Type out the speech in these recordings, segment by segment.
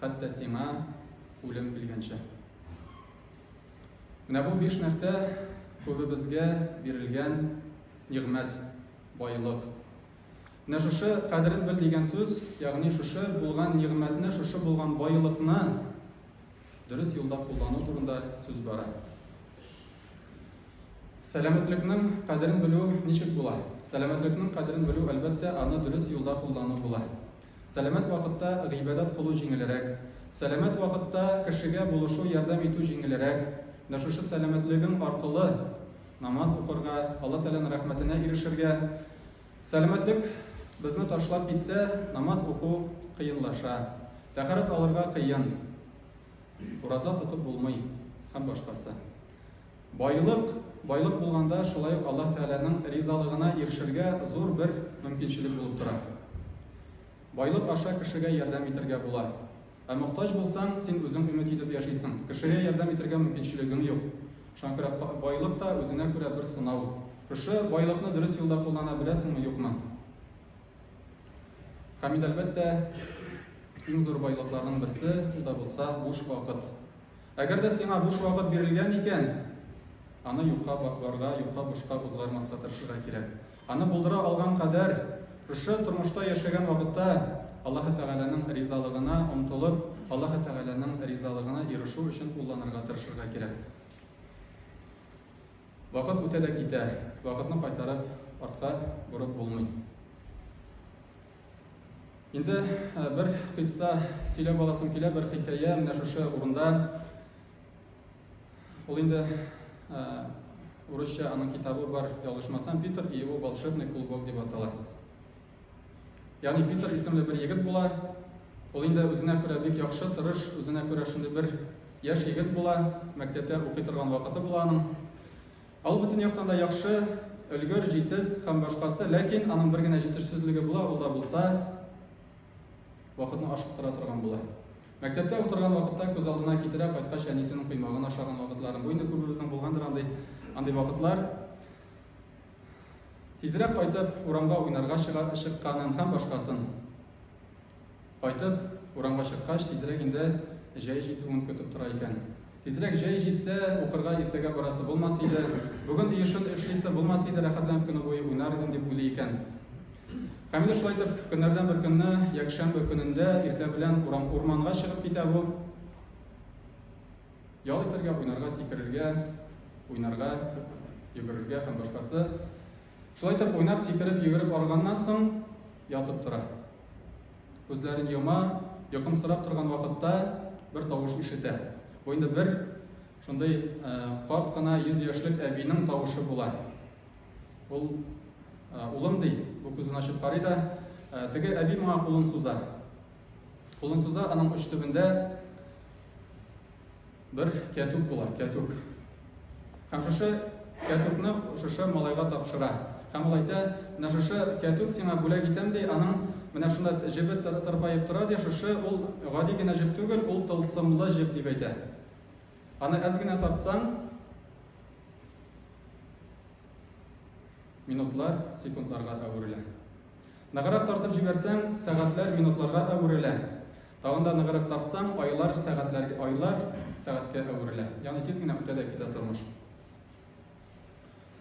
хәтта сиңа үлем килгәнчә. Менә бу биш нәрсә күбебезгә бирелгән нигъмәт, байлык. Менә шушы кадерен бел дигән сүз, ягъни шушы булган нигъмәтне, шушы булган байлыкны дөрес юлда куллану турында сүз бара. Сәламәтлекнең кадерен белү ничек була? Сәламәтлекнең кадерен белү, әлбәттә, аны дөрес юлда куллану була. Сәламәт вакытта гыйбадәт кылу җиңелрәк. Сәламәт вакытта кешегә булышу, ярдәм итү җиңелрәк. Менә шушы сәламәтлегең аркылы намаз укырга, Алла Тәгаләнең рәхмәтенә ирешергә. Сәламәтлек безне ташлап китсә, намаз уку кыенлаша, тәһарәт алырга кыен, ураза тотып булмый һәм башкасы. Байлык, байлык булганда шулай ук Аллаһ Тәгаләнең ризалыгына ирешергә зур бер мөмкинчелек булып тора. Байлык аша кешегә ярдәм итергә була. Ә мохтаҗ булсаң, син үзең өмет итеп яшисең, кешегә ярдәм итергә мөмкинчелегең юк. Шуңа күрә байлык та үзенә күрә бер сынау. Шушы байлыкны дөрес юлда куллана беләсеңме, юкмы? Һәм инде, әлбәттә, иң зур байлыкларның берсе, ул да булса, буш вакыт. Әгәр дә сиңа буш вакыт бирелгән икән, аны юкка барга, юкка бушка узгармаска тырышырга кирәк. Аны булдыра алган кадәр, шушы тормышта яшәгән вакытта Аллаһы Тәгаләнең ризалыгына омтылып, Аллаһы Тәгаләнең ризалыгына ирешү өчен кулланырга тырышырга кирәк. Вакыт үтә дә китә, вакытны кайтарып артка борып булмый. Инде бер кыйсса сөйләп аласым килә, бер хикәя менә шушы урында. Ул инде урысча аның китабы бар, ялгышмасам, Питер и его волшебный клубок дип атала. Ягъни Питер исемле бер егет була. Ул инде үзенә күрә бик яхшы, тырыш, үзенә күрә шундый бер яшь егет була, мәктәптә укый торган вакыты була аның. Ул бөтен яктан да яхшы, өлгер, җитез һәм башкасы, ләкин аның бер генә җитешсезлеге була, ул да булса, вакытны ашыктыра торган була. Мәктәптә утырган вакытта күз алдына китерә, кайткач әнисенең коймагын ашаган вакытларын. Бу инде күбебезнең булгандыр андый, андый вакытлар. Тизрәк кайтып, урамга уйнарга чыга, чыкканын һәм башкасын. Кайтып, урамга чыккач, тизрәк инде җәй җитүен көтеп тора икән. Тизрәк җәй җитсә, укырга иртәгә барасы булмас иде. Бүген өй эшен эшлисе булмас иде, рәхәтләнеп көне буе уйнар идем, дип уйлый икән. Камилә шулай итеп, көннәрдән бер көнне, якшәмбе көнендә иртә белән урам урманга чыгып китә бу. Ял итәргә, уйнарга, сикерергә, уйнарга, йөгерергә һәм башкасы. Шулай итеп, уйнап, сикереп, йөгереп арыганнан соң, ятып тора. Күзләрен йома, йокымсырап торган вакытта бер тавыш ишетә. Бу инде бер шундый э, карт кына 100 яшьлек әбинең тавышы була. Ул э, улым ди, бу күзен ачып карый да, э, теге әби моңа кулын суза. Кулын суза, аның уч төбендә Бер кәтүк була, кәтүк. Һәм шушы кәтүкне шушы малайга тапшыра. Һәм ул әйтә, менә шушы кәтүк сиңа бүләк итәм, ди, аның менә шунда җебе тырпаеп тора, ди, шушы ул гади генә җеп түгел, ул тылсымлы җеп, дип әйтә. Аны әз генә тартсаң, минутлар секундларга әверелә. Ныграк тартып җибәрсәң, сәгатьләр минутларга әверелә. Тагын да ныграк тартсаң, айлар сәгатьләр, айлар сәгатькә әверелә. Ягъни тиз генә үтә дә китә тормыш.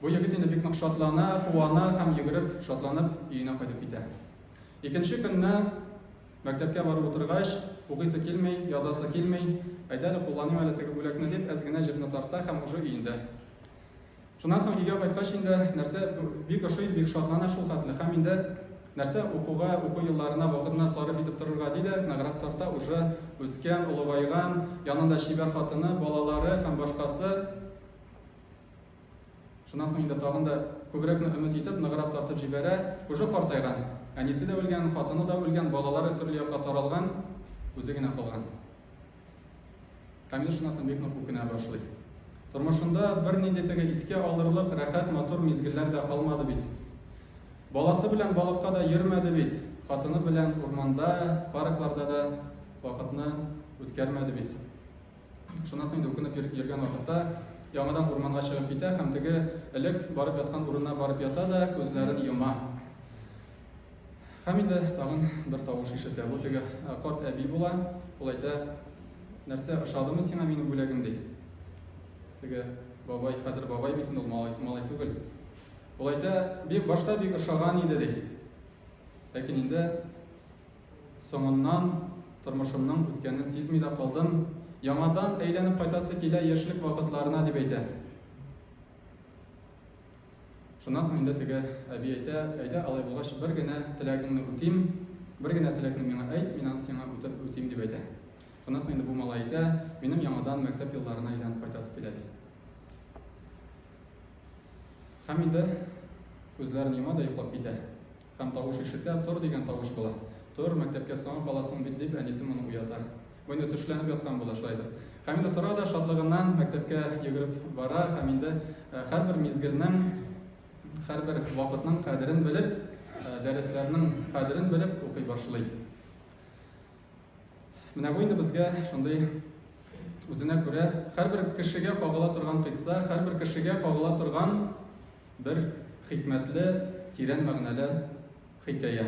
Бу егет инде бик нык шатлана, куана һәм йөгереп, шатланып өенә кайтып китә. Икенче көнне мәктәпкә барып утыргач, укыйсы килми, язасы килми, әйдә әле кулланыйм әле теге бүләкне дип, әз генә җепне тарта һәм уже өендә. Шуннан соң өйгә кайткач инде нәрсә бик ошый, бик шатлана шул хәтле. Һәм инде нәрсә укуга, уку елларына вакытны сарыф итеп торырга ди дә, ныграк тарта, уже үскән, олыгайган, янында чибәр хатыны, балалары һәм башкасы. Шуннан соң инде тагын да күбрәкне өмет итеп, ныграк тартып җибәрә. Уже картайган, әнисе дә үлгән, хатыны да үлгән, балалары төрле якка таралган, үзе генә калган. Камил шунасын бик нык үкенә башлый. Тормышында бер нинди теге искә алырлык рәхәт матур мизгелләр дә калмады бит. Баласы белән балыкка да йөрмәде бит. Хатыны белән урманда, паркларда да вакытны үткәрмәде бит. Шунасын инде үкенеп йөргән вакытта яңадан урманга чыгып китә һәм теге элек барып яткан урынына барып ята да күзләрен йома. Һәм инде тагын бер тавыш ишетә. Бу теге э, карт әби була. Ул әйтә, нәрсә, ошадымы сиңа минем бүләгем ди. Теге бабай, хәзер бабай бит ул малай, малай түгел. Ул әйтә, бик башта бик ошаган иде ди. Ләкин инде соңыннан тормышымның үткәнен сизми дә калдым. Яңадан әйләнеп кайтасы килә яшьлек вакытларына дип әйтә. Шуннан соң инде теге әби әйтә, Әйдә, алай булгач, бер генә теләгеңне үтим, бер генә теләкне миңа әйт, мин аны сиңа үтәп үтим, дип әйтә. Шуннан соң инде бу малай әйтә, Минем яңадан мәктәп елларына әйләнеп кайтасы килә, ди. Һәм инде күзләрен йома да йоклап китә. Һәм тавыш ишетә, Тор! дигән тавыш була. Тор, мәктәпкә соңа каласың бит, дип, әнисе моны уята. Бу инде төшләнеп яткан була, шулайдыр. Һәм инде тора да шатлыгыннан мәктәпкә йөгереп бара һәм инде һәрбер мизгелнең, һәрбер вакытның кадерен белеп, дәресләрнең кадерен белеп укый башлый. Менә бу инде безгә шундый үзенә күрә һәрбер кешегә кагыла торган кыйсса, һәрбер кешегә кагыла торган Бер хикмәтле, тирән мәгънәле хикәя.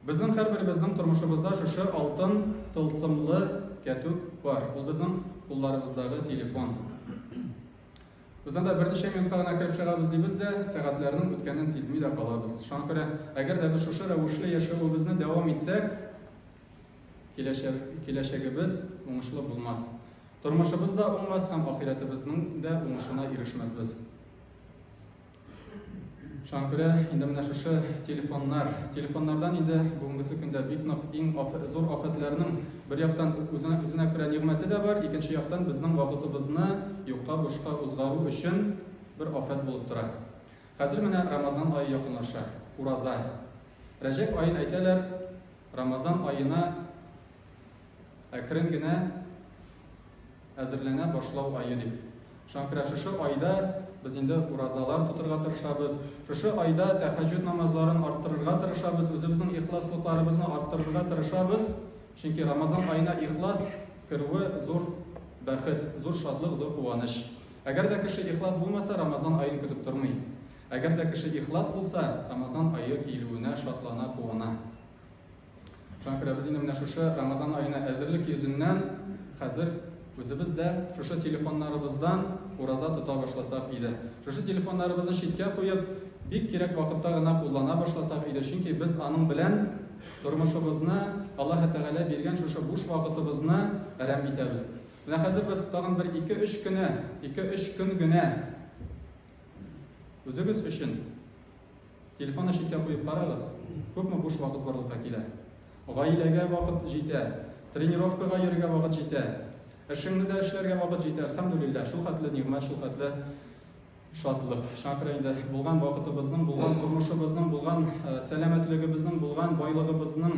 Безнең һәрберебезнең тормышыбызда шушы алтын тылсымлы кәтүк бар. Ул безнең кулларыбыздагы телефон. Без анда берничә минутка гына кереп чыгабыз дибез дә, сәгатьләрнең үткәнен сизми дә калабыз. Шуңа күрә, әгәр дә без шушы рәвешле яшәвебезне дәвам итсәк, Киләчәк, киләчәгебез уңышлы булмас. Тормышыбыз да уңмас һәм ахирәтебезнең дә уңышына ирешмәсбез. Шуңа күрә инде менә шушы телефоннар, телефоннардан инде бүгенгесе көндә бик нык иң аф, зур афәтләрнең бер яктан үзенә, үзенә күрә нигъмәте дә бар, икенче яктан безнең вакытыбызны юкка бушка узгару өчен бер афәт булып тора. Хәзер менә Рамазан ае якынлаша, ураза. Рәҗәп аен әйтәләр, Рамазан аена әкрен генә әзерләнә башлау ае дип. Шуңа күрә шушы айда без инде уразалар тотырга тырышабыз. Шушы айда тәһәҗҗүд намазларын арттырырга тырышабыз, үзебезнең ихласлыкларыбызны арттырырга тырышабыз. Чөнки Рамазан аена ихлас керүе зур бәхет, зур шатлык, зур куаныч. Әгәр дә кеше ихлас булмаса, Рамазан аен көтеп тормый. Әгәр дә кеше ихлас булса, Рамазан ае килүенә шатлана, куана. Шакира, без инде менә шушы Рамазан аена әзерлек йөзеннән хәзер үзебез дә шушы телефоннарыбыздан ураза тота башласак иде. Шушы телефоннарыбызны читкә куеп, бик кирәк вакытта гына куллана башласак иде, чөнки без аның белән тормышыбызны, Аллаһ Тәгалә биргән шушы буш вакытыбызны әрәм итәбез. Менә хәзер без тагын бер 2-3 көне, 2-3 көн генә Үзегез өчен телефонны читкә куеп карагыз, күпме буш вакыт барлыкка килә. Гаиләгә вакыт җитә, тренировкага йөрергә вакыт җитә, эшеңне дә эшләргә вакыт җитә, әлхәмдүлилләһ, шул хәтле нигъмәт, шул хәтле шатлык. Шуңа күрә инде булган вакытыбызның, булган тормышыбызның, булган э, сәламәтлегебезнең, булган байлыгыбызның